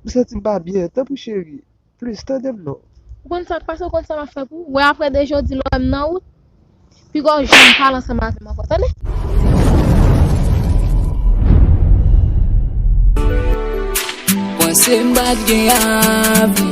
M santim pa byen tanpri cheri plis tandem non. Ou konn sak pase ou konn sa map fè pou ou wè aprè de jodi lè wèm nan wout piga ou janm pale ansanm avèm ankò tande. Panse m pat gen avni.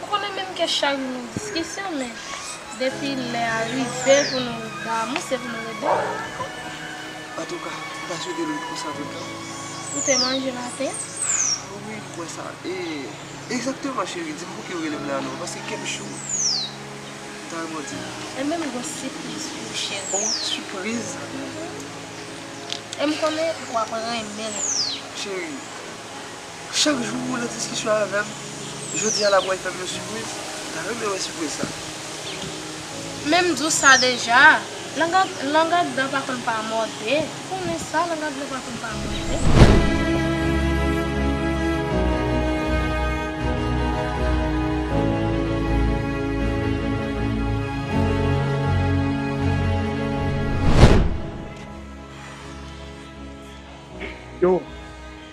M konnen menm ke chari nou diskisyon men depi lè a rive pou nou damou se pou nou ret damou. Antouka, m ta swete l ret konsa tout tan. Ou te manje maten an? Ah wi, m kwè sa. E, egzakteman cheri, di m pouki ou rele m lè a non, paske kè m cho. M ta renmen w di m. Enben m gon sipriz pou ou cheri. Oh, sipriz? Uhmm. E m konnen w ap renmen l. Cheri. Chak jou ou nan diskisyon avèm, jodi a la pral fèm yon sipriz, ta renmen wè sipriz sa. Men m di w sa deja, lang ak dan pa konn pa mòde, konnen sa lang ak dan pa konn pa mòde.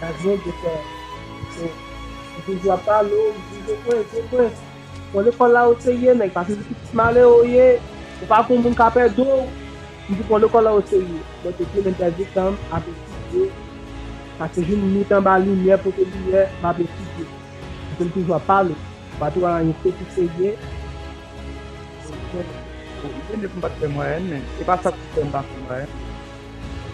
Dadjou gen kè cho. Li toujou ap pale w, li di, Joprens, Joprens, bon lekòl la ou te ye, nèg pa te di pitit malere ou ye, ou pa pou moun ka pè do w. M di bon lekòl la ou te ye. Mwen te fin entèdi tan m ap etidye, pase jou m nwit anba limyè pote limyè, m ap etidye. Paske li toujou ap pale. Ou pa toujou anyen kou ki serye. Bon, li te di m pa t fè mwayèn, men se pa sa k fè m pa fè mwayèn.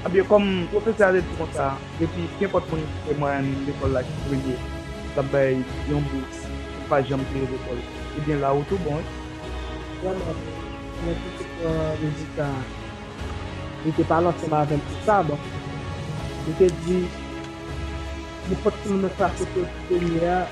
Ebyen, kòm pwofesè a te di konsa, depi kenpòt moun ki te marèn lekòl la ki vle ye, l ap bay yon bous pou l pa janm peye lekòl, ebyen la ou tou bon wi. Vrèman vre, mwen tou te pran rezilta a. Li te pale ansanm avè m sou sa, donk, li te di, Nenpòt timoun nan klase ke w te premye a,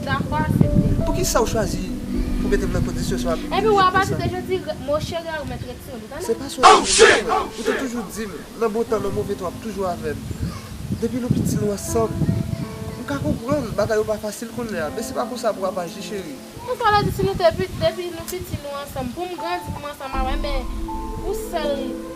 Dakò asepte. Poukisa ou chwazi pou metem nan kondisyon sa wap di m Epi ou a pati de jodi mo cheri a ou mèt retire l ou tande. Se pa sou rezo sa mwen wè ou. Ou te toujou di m nan bon tan nan move tan wap toujou avè m. Depi nou piti nou ansanm. M ka konprann bagay yo pa fasil kounyè a men se pa konsa pou wap aji cheri. Konsa w vle di si nou te depi nou piti nou ansanm pou m grandi pou m ansanm avè men ou sèl.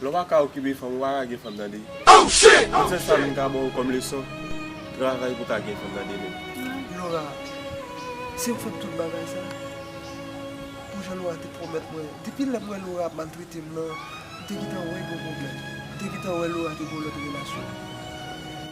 Lè w pa ka okipe fanm ou pa ka gen fanm tande. Tout sèl sa m ka ba w kòm leson, travay pou w ka gen fanm nan demen. Laura, si m fè tout bagay sa, pou jan Laura te pwomèt mwen, depi lè m wè Laura ap maltrete m nan, m te gentan wè gen yon pwoblèm. M te gentan wè Laura te gen yon lòt relasyon.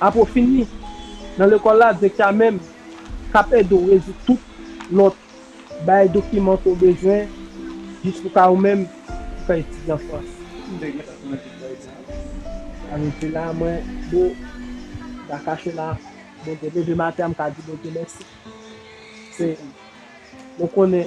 Apre w fini nan lekòl la, direktè a menm k ap ede w rezoud tout lòt bagay dokiman ke w bezwen jis pou ka ou menm pou ka etidye an Frans. M te gentan kòmanse travay sa a. Sa vle di la mwen bo da kache la mwen te leve maten an m ka di Bondye mèsi. Se mwen konnen.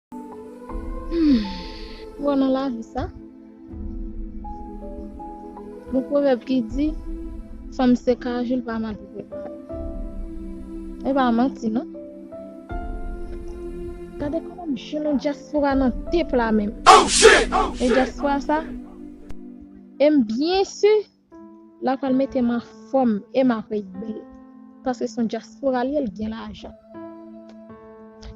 Bon nan lavi sa Yon pwovèb ki di Fanm se kajou l pa mande prepare E pa manti non Gade kòman jounen dyaspora nan depla menm E dyaspora sa E m byen si La pral metem anfom e ma prey bel paske son diaspora liye li gen lajan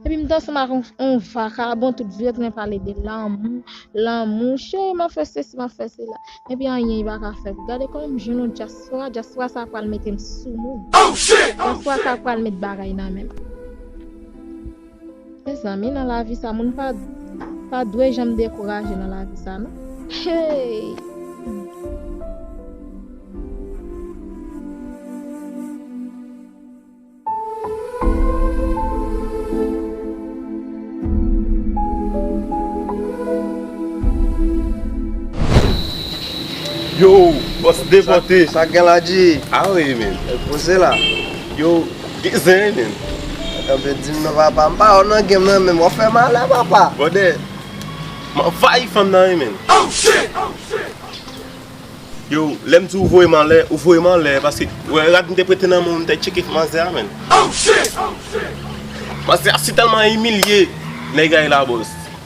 epi m danse m ak on vakabon tout vye tren pale de lanmou lanmou cheri map fè sesi map fè sela epi anyen li paka fèm gade koman m jwenn on diaspora diaspora sa pral metem sou moun diaspora sa pral met bagay nan menm. Mezanmi nan lavi sa moun pa pa dwe janm dekouraje nan lavi sa non heyy. Yo! Bòs depote! Sa gen la G? Ah wi men! Poze la! Yo! Ki zeinen? Kanpe dim non papa m pa wè w nan game nan menm wap fè malè papa. Brother m anvayi fanm nan wi menn. Yow lèm di ou voye m anlè ou voye m anlè paske ou wè rad m te prete nan men w m te tcheke manzè a menn. Manzè a si tèlman imilye nèg a e la boss.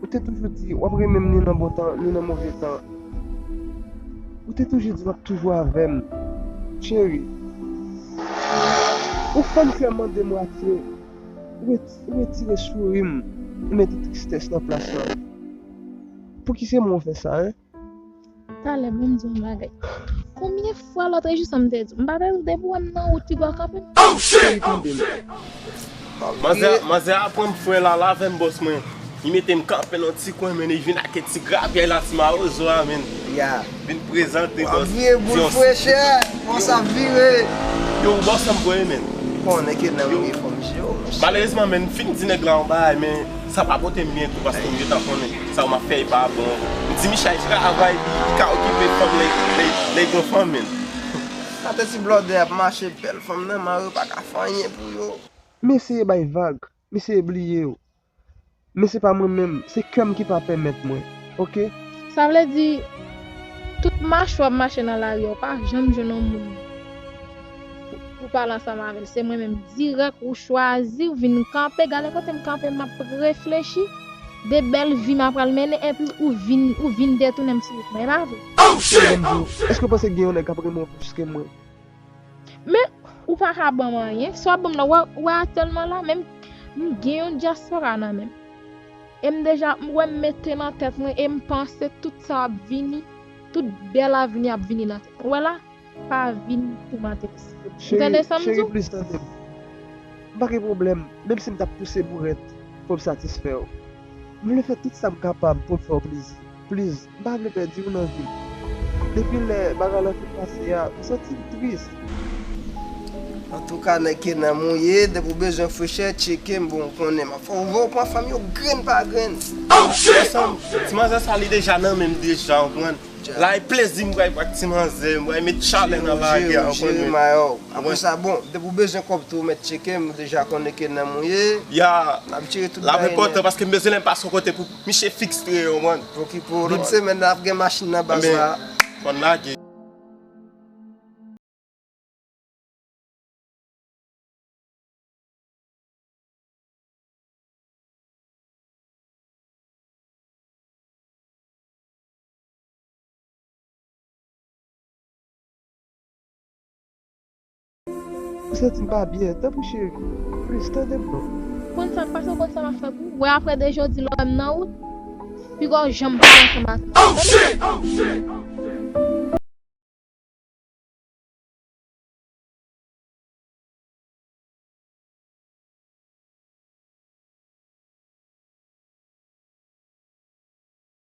Ou te toujou di wap renmen m ni nan bon tan ni nan move tan Ou te toujou di wap toujou avè m Cheri Ou fè m fè mande mwatye Ou retire souri m Ou mete tristès nan plas la Pouki se mwen ou fè sa hein? Talè mwen di yon bagay. Konbyen fwa lotre jou sa m te di. M pa te di depi wèm nan wout ti bò kanpe. Oh shit! Manzè a pranm frè lala avèm bòs mwen. Li metem kanpe nan ti kwen men li vin ak e ti gravyèy la ti mawozo a menn. Vin prezante bòs. Wap vire boul frechè. Bòs ap vire. Yo ou bòs anm voye menn. Ou konnen ke nan yon efòm jeo monchè. Malerezman menn m fin di nèg la yon bagay men. Sa pa potem byen tou paske misye ta konnen sa ou map fè epa bon mdi michay travay li li ka okipe fanm lèy gon fanmil. Gade ti blòdè ap mache bèl fanm nan man yo paka fè anyen pou yo. M eseye bay vag, m eseye bliye w men se pa mwen menm, se kè m ki pa pèmèt mwen ok. Sa vle di tout mache wap mache nan lari a ou pa janm jwenn yon moun. Ou pale ansanm avèl se mwen menm dirèk ou chwazi ou vin kanpe gade kotem kanpe map reflechi de bèl vi ma pral mennen epi ou vin ou vin detounem sou wout mwen epa vre. Sèl banm diw èske ou panse gen yon nèg kap renmen w plis ke mwen. Men ou paka banm anyen sa wap banm la ou wè atèlman la menm m gen yon dyaspora nan menm em deja m wèm mete nan tèt mwen em panse tout sa ap vini tout bèl avni ap vini nan tèt mwen ou wè la. Pa vin pou matrix yo. Ou tande sam di w? Cheri plis tande m. M pa gen pwoblèm, menm si m t ap pouse bourèt pou m satisfè w. M vle fè tout sa m kapab pou m fè w plezi. Pliz, m pa vle pèdi w nan vi m. Depi lè bagay lan fin pase a, m santi m tris. Antouka nèg ke nanm ou ye, depi w bezwen frechè, tcheke m pou w konnen. M ap fè w wè ou pran fanm yo grenn pa grenn. Ansanm! Ti manzè sa li deja nan men m deja, ou konprann? Lay plezi m pral ak ti manzè m pral met chalè nan lagè an konn men. Apre sa bon depi ou bezwen kòb tou ou mèt tcheke m ou deja konnen ki nan m ou ye. Ya lap enpòtan paske m bezwen lè m pase yon kote pou miche fiks tree yo man. Pokipo lòt semèn nan ap gen machin nan baz la. Fòn lage. Ou santi m pa byen tanpri cheri plis tande m non. Konn sa pase ou konn sa map fè pou ou wè aprè de jodi lè ou wèm nan wout piga ou janm pale ansanm ak mwen tande.